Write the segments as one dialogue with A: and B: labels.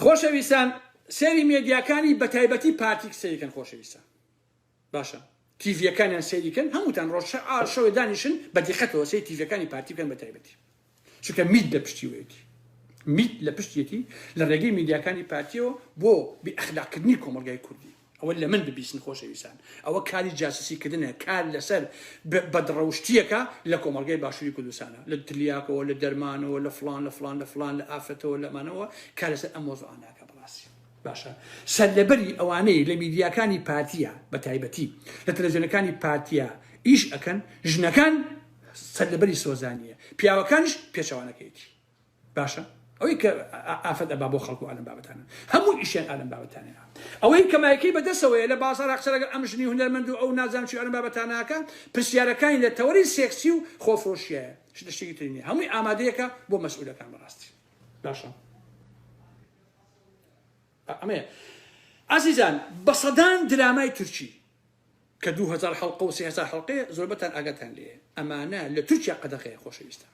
A: خۆشەویستان سەیری مێدیاکانی بەتایبەتی پارتیک سەیریکەن خۆشەویستان باشە تیڤەکانیان سەیریکەن هەمووتان ڕۆژ شەوێ دانیشن بە دیقەتەوە سەی تیڤەکانی پارتیکەن بەتایبەتی چونکە میت لە پشتیوەیەتی میت لە پشتێتی لە ڕێگەی میدیاکانی پارتیەوە بۆ بی ئەخلاقکردنی کۆمەلگای کوردی ئەوە لە من ببیسن خۆشەویستان ئەوە کاری جاسوسی کردنە کار لەسەر بەدڕەوشتیەکە لە کۆمەلگای باشووری کوردستانە لە تلیاکەوە لە دەرمانەوە لە فلان لە فلان لە فلان لە ئافرەتەوە لەمانەوە کار لەسەر ئەم مۆزوعاناکە بڕاستی باشە سەرلەبەری ئەوانەی لە میدیاکانی پارتیە بە تایبەتی لە تەلەزیۆنەکانی پارتیە ئیش ئەکەن ژنەکان سەرلەبەری سۆزانیە پیاوەکانش پێچەوانەکەیتی باشە ئەوەی کە ئافەت ئەبا بۆ خەڵکو ئالەم بابەتانە هەموو ئیشیان ئالەم بابەتانە ئەوەی کە مایکەی بەدەسەوەیە لە بازارا قسە لەگەڵ ئەم ژنی هونەرمەند و ئەو نازام چی ئالەم بابەتاناکە پرسیارەکانی لە تەوەری سێکسی و خۆفرۆشیایە شتە شتێکی تری نیە هەمووی ئامادەیەکە بۆ مەسئولەکان بەڕاستی باشە ئەمەیە ئازیزان بە سەدان درامای تورکی کە 2000 حلقە و 3000 حلقەیە زۆربەتان ئاگاتان لێ ئەمانە لە تورکیا قەدەخەیە خۆشەویستان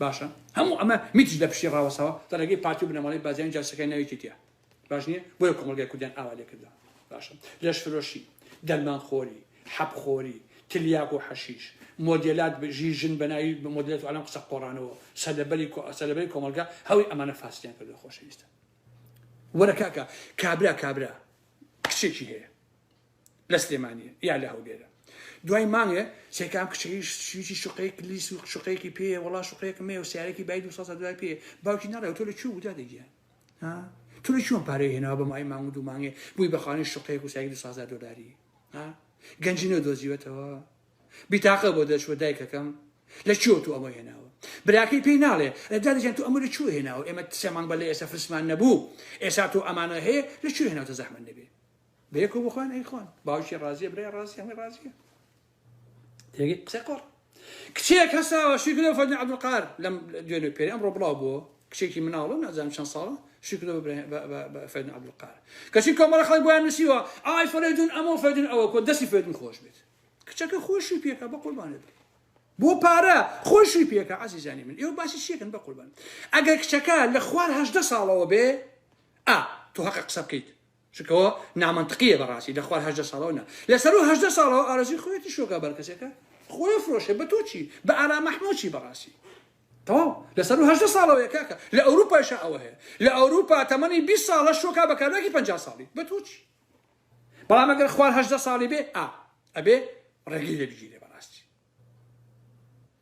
A: باشە هەموو ئەمە میتیش لە پشتی ڕاوەستاوە لە ڕێگەی پارتی و بنەماڵەی بازیان جاشەکەی ناوی کیتیە باش نیە بۆیە کۆمەڵگای کوردیان ئاوا لێکردە باشە لەش فرۆشی دەرمان خۆری حەب خۆری تلیاک و حەشیش مۆدێلات ژی ژن بەناوی بە مۆدلێت و ئەلام قسە قۆڕانەوە سەلەبەری سەلەبەری کۆمەڵگا هەوی ئەمانە فاسدیان کردو خۆشەویستە وەرە کاکە کابرا کابرا کچێکی هەیە لە سلێمانییە یا لە هەولێرە دوای مانگێ سێکام کچەیش شویی شوقەیەک لیس و شوقەیەکی پێ وڵا شوقەیەکم مێ و سیارێکی بای دو سەد دوای پێ باوکی ناڵێ تۆ لە چوو بوودا دەگیان تۆ لە چۆن پارەی هێناوە بە مای مانگ و دوو مانگێ بووی بەخانی شوقەیەک و سایک دو سازار دۆلاری گەنجی نە دۆزیوەتەوە بیتاقە بۆ دەچوە دایکەکەم لە چۆ تو ئەمە هێناوە براکەی پێی ناڵێ دادەجان تو ئەمە لە چوە هێناوە ئێمە سێ مانگ بە لە ئێستا فرسمان نەبوو ئێسا تۆ ئەمانە هەیە لە چوێ هێناوتە زەحمە نەبێ بەیەکەوە بخۆن ئەی خۆن باوکی ڕازیە برای ڕازی هەمووی ڕازیە تێگەی قسەی قۆڕ کچێک هەساوە شیکرۆ فەرمی عەبدولقار لەم دوێنێ پێری ئەمڕۆ بڵاو بووە کچێکی مناڵە نازانم چەند ساڵە شیکرۆ فەرمی عەبدولقار کەچی کۆمەڵە خەڵک بۆیان نووسیوە ئای فەرێدون ئەمە فەرێدون ئەوە کۆ دەستی فەرێدون خۆش بێت کچەکە خۆشی پێکا بە قوربانێت بۆ پارە خۆشی پێکە عزیزانی من ئێوە باسی شێکن بە قوربان ئەگەر کچەکە لە خوار هەشدە ساڵەوە بێ ئا تۆ هەقە قسە بکەیت چونکە ئەوە نامەنتقیە بەڕاستی لە خوار هەژدە ساڵەوە نا لەسەر و هەژدە ساڵەوە ئارەزوی خۆیەتی شۆکا بەرکەسێکە خۆیە فرۆشێ بە تۆ چی بە ئارام ئەحمۆ چی بەڕاستی تەواو لەسەر و هەژدە ساڵەوەیە کاکە لە ئەوروپایشا ئەوە هەیە لە ئەوروپا تەمەنی بیست ساڵە شۆکا بە کابراکی پەنجا ساڵی بە تۆ چی بەڵام ئەگەر خوار هەژدە ساڵی بێ ئا ئەبێ ڕێگەی لێ بگیرێ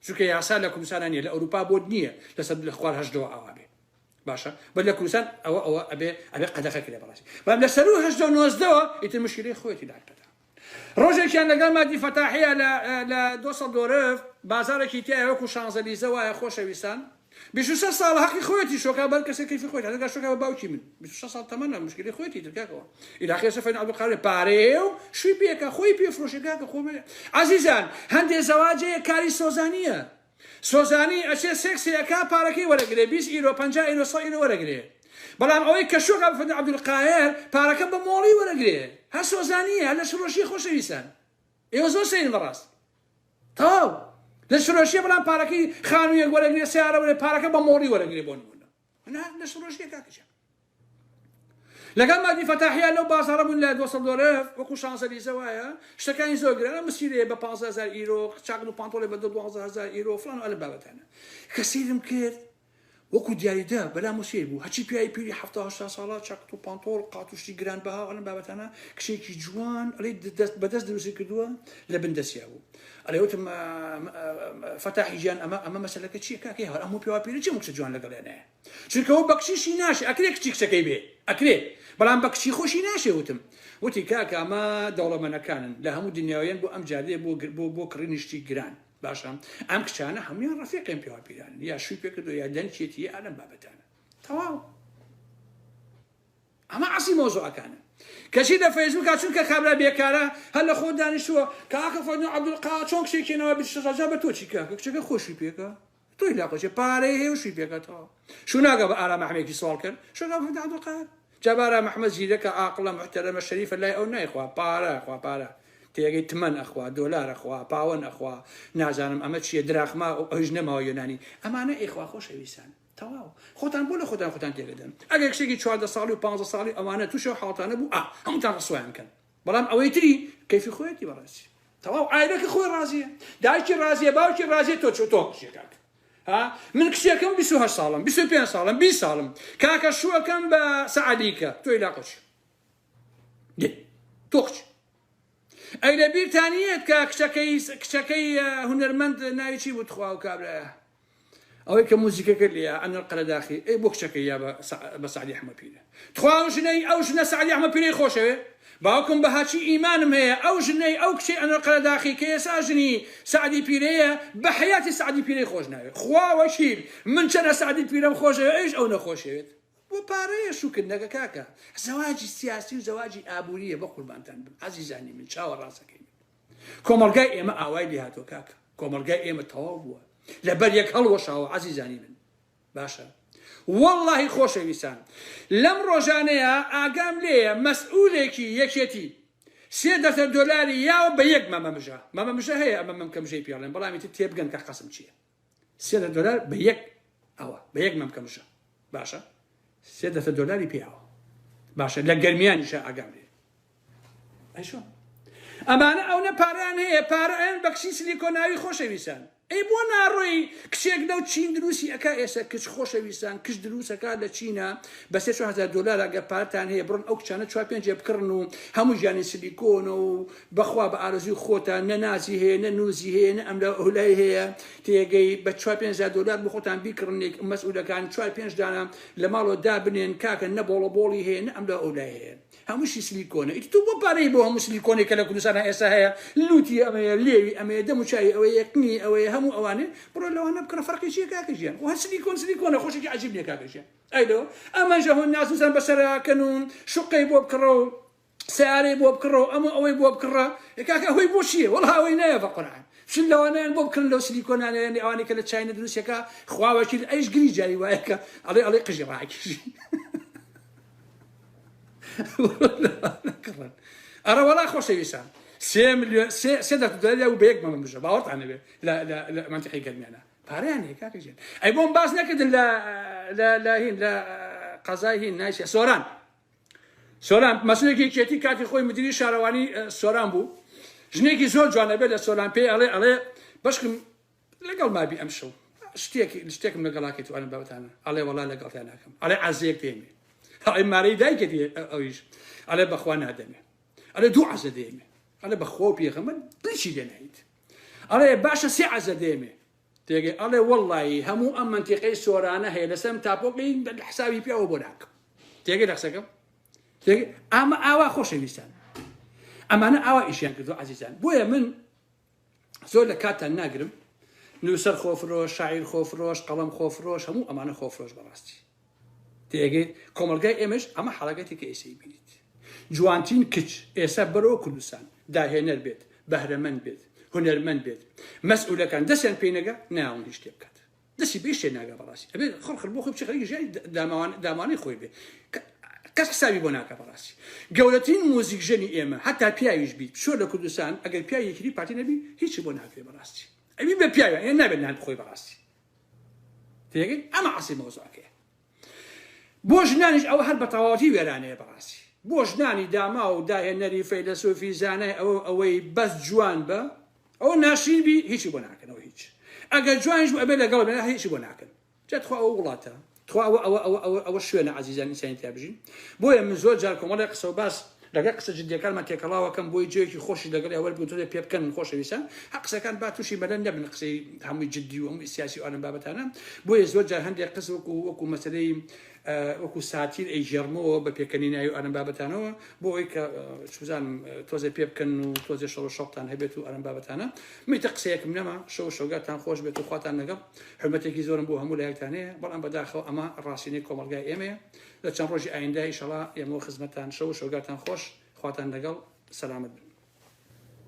A: چونکە یاسا لە کوردستان نیە لە ئەوروپا بۆت نییە لەسەر لە خوار هەشتەوە ئاوا بێ باشە بە لە کوردستان ئەوە ئەوە ئەبێ ئەبێ قەدەخە کرێ بەڕاستی بەم لە سەرو هەشتەوە نۆزدەوە ئیتر مشکلی خۆیەتی داکتەدا ڕۆژێکیان لەگەڵ مادی فەتاحەیە لە لە دۆسەڵ دۆرف بازارێکی تایە وەکو شانزەلیزە وایە خۆشەویستان بیست و شەش ساڵە هەقی خۆیەتی شۆکا بەر کەسێ کەیفی خۆیت هەردەگا شۆکا بە باوکی من بیست و شەش ساڵ تەمەنە مشکلی خۆیەتی تر کاکەوە ئیلاخێ سەفەین عەبدولقادر پارەیە و شوی پێکە خۆی پێ فرۆشێ کاکە خۆ مەیە عەزیزان هەندێ زەواجەیە کاری سۆزانیە سۆزانی ئەچێ سێکسێ ئەکا پارەکەی وەرەگرێ بیست ئیرۆ پەنجا ئیرۆ سەد ئیرۆ وەرەگرێ بەڵام ئەوەی کە شۆکا بە فەرمی عەبدولقاهر پارەکە بە مۆڵی وەرەگرێ هەر سۆزانیە هەر لەشفرۆشیە خۆشەویستان ئێوە زۆر سەیرن بەڕاست تەواو لە شرۆشیە بەڵام پارەکەی خانوویەک وەرەگرێ سیارە وەرێ پارەکە بە مۆڕی وەرەگرێ بۆ نمونە نا لە شرۆشیە کاکەجان لەگەڵ مادی فەتاحیا لەو بازارە بوون لە 200 دۆلار وەکو شانزەلیزە وایە شتەکانی زۆر گرانە مسیرێ بە 15000 ئیرۆ چاکن و پانتۆڵێ بە 12000 ئیرۆ فلان و ئەلە بابەتانە کە سیرم کرد وەکو دیاری دە بەلام و سەیر بوو هەرچی پیاوی پیری حەفتا هەشتا ساڵە چاکت و پانتۆڵ قات و شتی گران بەها ئەلەم بابەتانە کچێکی جوان ئەلێی دەست بە دەست دروستی کردووە لە بن دەسیا بوو ئەلێ وتم فەتاحی گیان ئەمە ئەمە مەسەلەکە چیە کاکەی هەر ئەموو پیاوە پیرە چی کچە جوان لەگەڵێ نەیە چونکە و بە کچیشی ناشێ ئەکرێ کچی کچەکەی بێ ئەکرێ بەڵام بە کچی خۆشی ناشێ وتم وتی کاکە ئەمە دەوڵەمەنەکانن لە هەموو دنیاویان بۆ ئەم جادێ بۆ بۆ بۆ کڕینی شتی گران باشە ئەم کچانە هەمویان ڕفێقێن پێوا پیرانن یا شوی پێکردو یا دەنکێتی یا ئەلم بابەتانە تەواو ئەمە عسی مۆزوعەکانە کەچی لە فەیسبوکە چونکە کابرا بێکارە هەر لە خۆ دانیشتووە کاکە فەنو عبدالقا چۆن کچێکێنەوە بشڕەجا بە تۆچی کاکە کچەکە خۆشی پێکە تۆی لا کۆچێ پارەی هەیە و شووی پێکەتەوە شوو ناکە بە ئارام ئەحمەیەکی سواڵ کەر شوو ناکە بە محمد عبدالقاهر جا بە ئارام ئەحمەد زیرەکە ئاقڵە محتەرەمە شەریفە لای ئەو نایخوا پارە ئەخوا پارە تێگەی تمەن ئەخوا دۆلار ئەخوا پاوەن ئەخوا نازانم ئەمە چییە دراخما و ئەویش نەماوە یۆنانی ئەمانە ئێخوا خۆشەویستان تەواو خۆتان بۆ لە خۆتان خۆتان تێگەدەن ئەگەر کچێکی چواردە ساڵی و پانزە ساڵی ئەوانە تووشی ئەو حاڵتانە بوو ئا هەمووتان ڕسوایان کەن بەڵام ئەوەی تری کەیفی خۆیەتی بەڕێزی تەواو عایلەکە خۆی ڕازیە دایکی ڕازیە باوکی ڕازیە تۆ چۆ تۆ کچێ کاکە ها من کچێکم 28 ساڵم 25 ساڵم 20 ساڵم کاکە شوەکەم بە سەعدیکە تۆی لا قچ تۆ قچ ئەی لە بیرتانیەت کە کچەکەی کچەکەی هونەرمەند ناوی چی بوو تخوا و کابرایە ئەوەی کە موزیکەکە لێیە ئەنە القەرەداخی ئەی بۆ کچەکەی یا بە سە بە سەعدی حەمە پیرە تخوا ئەو ژنەی ئەو ژنە سەعدی حەمە پیرەی خۆشەوێ باوکم بە هاچی ئیمانم هەیە ئەو ژنەی ئەو کچەی ئەنە القەرەداخی کە ئێسا ژنی سەعدی پیرەیە بە حەیاتی سەعدی پیرەی خۆش ناوێ خوا وەکیل من چەنە سەعدی پیرەم خۆشەوێ ئەویش ئەو نەخۆشەوێت بۆ پارەیە شوکر نەکە کاکە زەواجی سیاسی و زەواجی ئابوورییە بەقوربانتان بم ئازیزانی من چاوەڕاستەکەی من کۆمەڵگای ئێمە ئاوای لێهاتوە کاکە کۆمەڵگای ئێمە تەواو بووە لەبەر یەک هەڵوەشاوە عەزیزانی من باشە واللهی خۆشەویستان لەم ڕۆژانەیە ئاگام لێیە مەسئولێکی یەکێتی سێ دەسە دۆلاری یاوە بە یەک مەمەمژە مەمەمژە هەیە ئەمە مەمکەمژەی پێڵێن بەڵامی تێبگەن کە قەسم چییە سێ دە دۆلار بە یەک ئەوە بە یەک مەمکە مشە باشە سێ دەتە دۆلاری پیاوە باشە لە گەرمیانیشە ئاگام لێ ئەشۆ ئەمانە ئەو نە پاران هەیە پارەیان بەکسی سلیکۆناوی خۆشەویستان ئەی بۆ ناڕۆی کچێک لەو چین دروستی ئەک ئێستا کچ خۆشەویستان کچ دروستەکە لە چینە بە 300 دلار ئەگە پارتان هەیە بڕن ئەو کچانە چوار پێنجێ بکڕن و هەموو ژیانی سلیکۆن و بەخوا بە ئارەزووی خۆتان نە نازی هەیە نە نوزی هەیە نە ئەملا ئەولای هەیە تێگەی بە چوار پێنج هەزار دۆلار بۆ خۆتان بیکڕنێک مەسئولەکان چوار پێنج دانە لە ماڵەوە دابنێن کاکە نە بۆڵە بۆڵی هەیە نە ئەملا ئەولای هەیە هەمووشی سلیکۆنە ئیتر تۆ بۆ پارەی بۆ هەموو سلیکۆنێک کە لە کوردستان ئێستا هەیە لوتی ئەمەیە لێوی ئەمەیە دەم و چاوی ئەوەیە قنی ئەوەیە هەموو ئەوانێ بڕۆ لەوانە بکڕە فەرقی چیە کاکە گیان خۆ هەر سلیکۆن سلیکۆنە خۆ شتێکی عەجیب نیە کاکە گیان ئەی لۆ ئەمەش هۆ ناز و زان بەسەرا کەن و شوقەی بۆ بکڕە و سەیارەی بۆ بکڕە و ئەمە ئەوەی بۆ بکڕە ئێ کاکە ئەوەی بۆ چییە وەڵا ئەوەی نایە بە قورعان چل لەوانەیان بۆ بکڕن لەو سلیکۆنانە یانی ئەوانەی کە لە چاینە دروستەکە خوا وەکیل ئەیش گری جاری وایە کە ئەڵێ ئەڵێ قژی ڕاکیژی کڕن ئەرە وەڵا خۆشەویستان سێ ملیۆن سێ سێ دەست دەلیا و بە یەک مەمە بژە باوەڕتان نەبێ لە لە لە منتیقی گەرمیانە پارەیان هەیە کاکە ژێن ئەی بۆم باس نەکردن لە لە لە هین لە قەزای هین نایسە سۆران سۆران مەسولێکی یەکێتی کاتی خۆی مدیری شارەوانی سۆران بوو ژنێکی زۆر جوانە بێت لە سۆران پێی ئەڵێ ئەڵێ بەشکم لەگەڵ مابی ئەم شەو شتێکی شتێکم لەگەڵاکەێت وانم بەوتانە ئەڵێ وڵا لەگەڵتیان ناکەم ئەڵێ عزێک دێمێ ئەڵێ مارەی دایکێت ئەویش ئەڵێ بەخوا نادەمێ ئەلێ دوو عزە دێمێ ئەلێ بەخۆ پێغەمە بچی دێنیت ئەڵێ باشە سێ عزە دێمێ تێگەی ئەڵێ وەڵڵایی هەموو ئەم مەنتیقەی سۆرانە هەیە لەسەر ئەم تاپۆکەی حسابی پیاوە بۆ ناکەم تێگەی لە قسەکەم تێگەی ئەمە ئاوا خۆشەویستان ئەمانە ئاوا ئیشیان کردو عزیزان بۆیە من زۆر لە کاتتان ناگرم نووسەر خۆفرۆش شاعیر خۆفرۆش قەڵەم خۆفرۆش هەموو ئەمانە خۆفرۆش بەڕاستی تێگەیت کۆمەڵگای ئێمەش ئەمە حەڕەکەتێکە ئێسەی بینیت جوانترین کچ ئێسە بەرەوە کوردستان داهێنەر بێت بەهرەمەند بێت هونەرمەند بێت مەسئولەکان دەسیان پێی نەگا ناون هیچ شتێ بکات دەسی بێ شتێ ناگا بەڕاستی ئەبێ خەڵخر بۆ خۆی بچێ خەریکی ژیانی داماوان دامانەی خۆی بێ کەس حسابی بۆ ناکا بەڕاستی گەورەترین موزیک ژەنی ئێمە هەتا پیاویش بیت شۆ لە کوردستان ئەگەر پیاوی یەکری پارتی نەبی هیچی بۆ ناکرێ بەڕاستی ئەوی بە پیاویان یان نابێت نان بخۆی بەڕاستی تێگەی ئەمە عەسی مەوزوعەکەیە بۆ ژنانیش ئەوە هەر بەتەواوەتی وێرانەیە بەڕاستی بۆ ژنانی داما و داهێنەری فەیلەسۆفی زانای ئەوە ئەوەی بەس جوان بە ئەو ناشرین بی هیچی بۆ ناکەنەوە هیچ ئەگەر جوانیش بۆ ئەبێ لەگەڵ بێ هیچی بۆ ناکەن جەتخوا ئەو وڵاتە تخوا ئەوە ئەوە ئەوە ئەوە ئەوە شوێنە ئازیزانی ئینسانی تیا بژین بۆیە من زۆر جار کۆمەڵێ قسە و باس لەگەڵ قسە جدیەکانمان تێکەڵاوەکەم بۆی جێیەکی خۆشی لەگەڵ یا وەرگتوێ پێ بکەن خۆشەویستان هە قسەکان با تووشی مەلەن نەبن قسەی هەمووی جددی و هەمووی سیاسی و ئەم بابەتانە بۆیە زۆر جار هەندێک قس وەکو وەکو مەسلەی وەکو ساتیر ئەی ژێرمەوە بە پێکەنی ناوی ئەم بابەتانەوە بۆ ئەوی کە سوزانم تۆزێ پێ بکەن و تۆزێ شەڵ شەڵتان هەبێت و ئەم بابەتانە میتە قسەیەکم نەما شەو شەوگاتان خۆش بێت و خواتان لەگەڵ حورمەتێکی زۆرم بۆ هەموو لایەکتان هەیە بەڵام بەداخەوە ئەمە ڕاستینەی کۆمەڵگای ئێمەیە لە چەند ڕۆژی ئایندە ئیشەڵا ئێمە خزمەتان شەو و شەوگاتان خۆش خواتان لەگەڵ سەلامەت بن